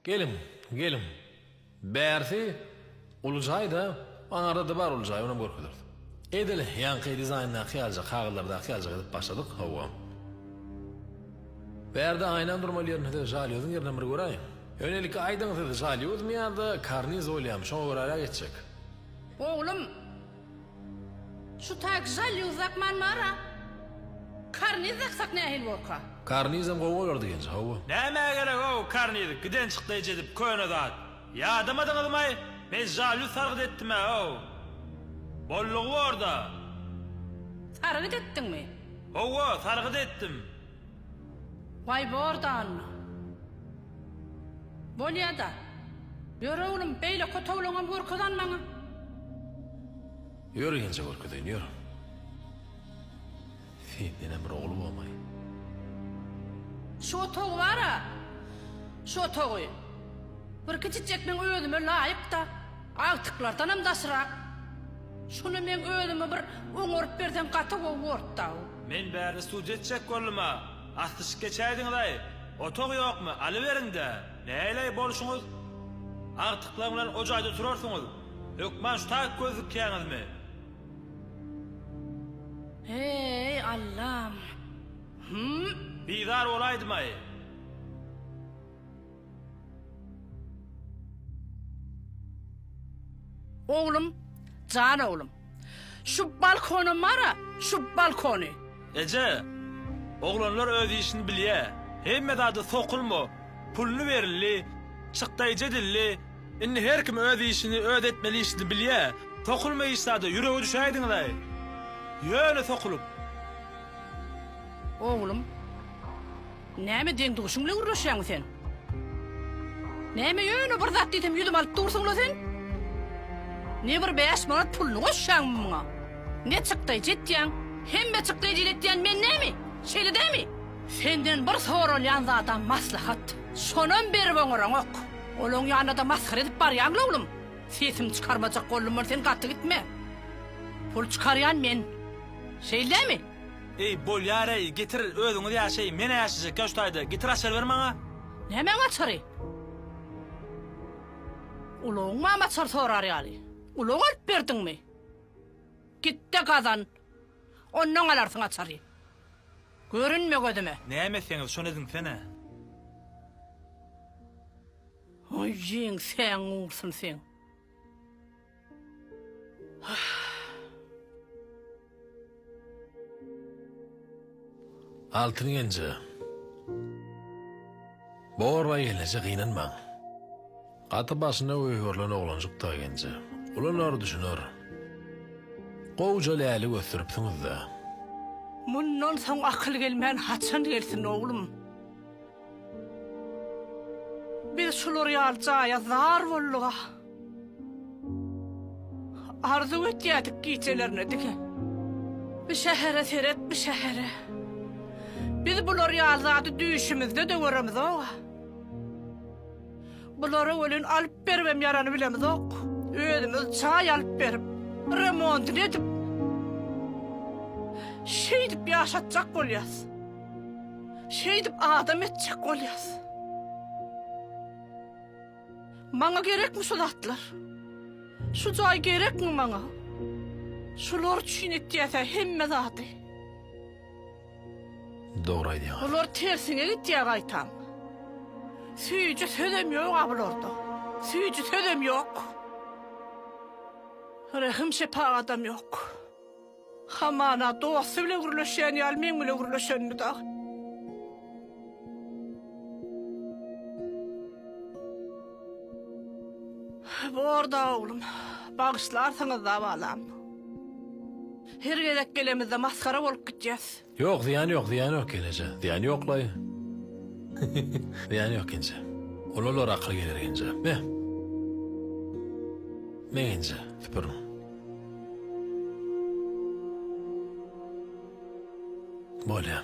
Geliň, geliň. Bärsi uly jaý-da, aňarda-da bar uly jaý, onam görkezeris. Edil ýaňky dizaýndaky ýalyja, kagyzlardaky ýalyja edip başladyk, hawa. Bärde aýnam durmaly ýerinde-de, žalýozyň ýerinem bir göräýiň. Öňelike aýdyň, siz žalýozmy ýa-da karniz bolýamy, şoňa göräräk etjek. Oglum! Şu taýyk žal ýuwzak man bara. Karniz daksak nähili borka. Karnizem gowy bolardy genji hawa. Nämä gerek o karniz giden çykdy ejedip köne zat ýadamadyňyzmaý men žalýu sargyt etdimä o bollugy borda. Sargyt etdiňmi. Howwa sargyt etdim. Waýbordanmy? Bolýa-da. Ýör-ä oglum, beýle kötewleňem görkezen maňa. Ýör genje görkezeýin, ýör. Sendenem bir ogul bolmaýyn. Şu otagy bar-a, şu otagy. Bir kiçijek meň özüme laýyk-da, agtyklardanam daşrak. Şuny meň özüme bir oňaryp berseň gaty gowy bort-da-ow. Men bärde sud etjek boldum-a, asyşyp geçäýdiňiz-aý, otag ýokmy, alyberiň-dä, näleý bolşuňyz? Agtyklaň bilen o jaýda oturarsyňyz, hökman şu taýyp gözlükýäňizmi? Heý, Allam! Hum! Bizar bolaýdym-aý! Oglum, jan oglum! Şu balkony mara, şu balkony. Eje, oglanlar öz işini bilýä, hemme zada sokulma, puluny berildi, çykdaý jedildi, indi her kim öz işini öz etmeli işini bilýä, sokulma hiç zada, ýürege düşäýdiňizaý, ýöne sokulyp. Oglum. Näme deň-duşuň bilen gürleşýäňmi sen? Näme ýöne bir zat diýsem ýüzüme alyp dursuň-la sen? Ne bir bäş manat puluny goşýaňmy muňa? Ne çykdaýjy etýäň? Hemme çykdaýjy ile etýän men näme? Şeýle dälmi? Senden bir soralýan zadam maslahat. Şonam berip oňaraňok. Olaň ýanyna-da masgara edip barýaň-la oglum. Sesimi çykarmajak boldum men sen gaty gitme. Pul çykarýan men. Şeýle dälmi? Eý, bolýar-eý, getir, özüňiz ýaşaý, men-ä ýaşajak ýoştaýda, getir açar ber maňa. Nämäň açary? Ulagyňam açar sorar ýaly, ulag alyp berdiňmi? Git-de gazan, ondan alarsyň açary. Görünme gözüme! Näme etseňiz, şony ediňsene. Oý, jeňsäň ursun seň! Altyn genje. Borba geleje gynanmaň. Gaty başyna öýgerilen oglanjykda genje. Ulanar düşüner. Gowja lälik ösdüripsiňizdä. Mundan soň akyl gelmän haçan gelsin oglum. Biz şular ýaly jaýa zar boldug-a. Arzuw etýärdik gijelerine diňe. Bu şähere seret, bu şähere. Biz bular ýaly zady düýşümizde-de göremizog-a. Bulara welin alyp beribem ýarany bilemizok. Özümiz jaý alyp berip, remontyny edip, şeýdip ýaşatjak bolýas. Şeýdip adam etjek bolýas. Maňa gerekmi şu zatlar? Şu jaý gerekmi maňa? Şular üçin etýäsä hemme zady. Dogry aýdýaň. Bular tersine gitýär gaýtam. Süýji sözem ýok a bularda. Süýji sözem ýok. Rehim şepagadam ýok. Hamana, dosty bilen gürleşýän ýaly meň bilen gürleşenini dagy. Bor-da, oglum. Bagyşlarsyňyz-da, balam. Her gezek gelemizde masgara bolup gitýäs. Ýok zyýany ýok zyýany ýok geneje zyýany ýoklaý zyýany ýok genje ulalar akyl geler genje me me genje süpürüň bolýa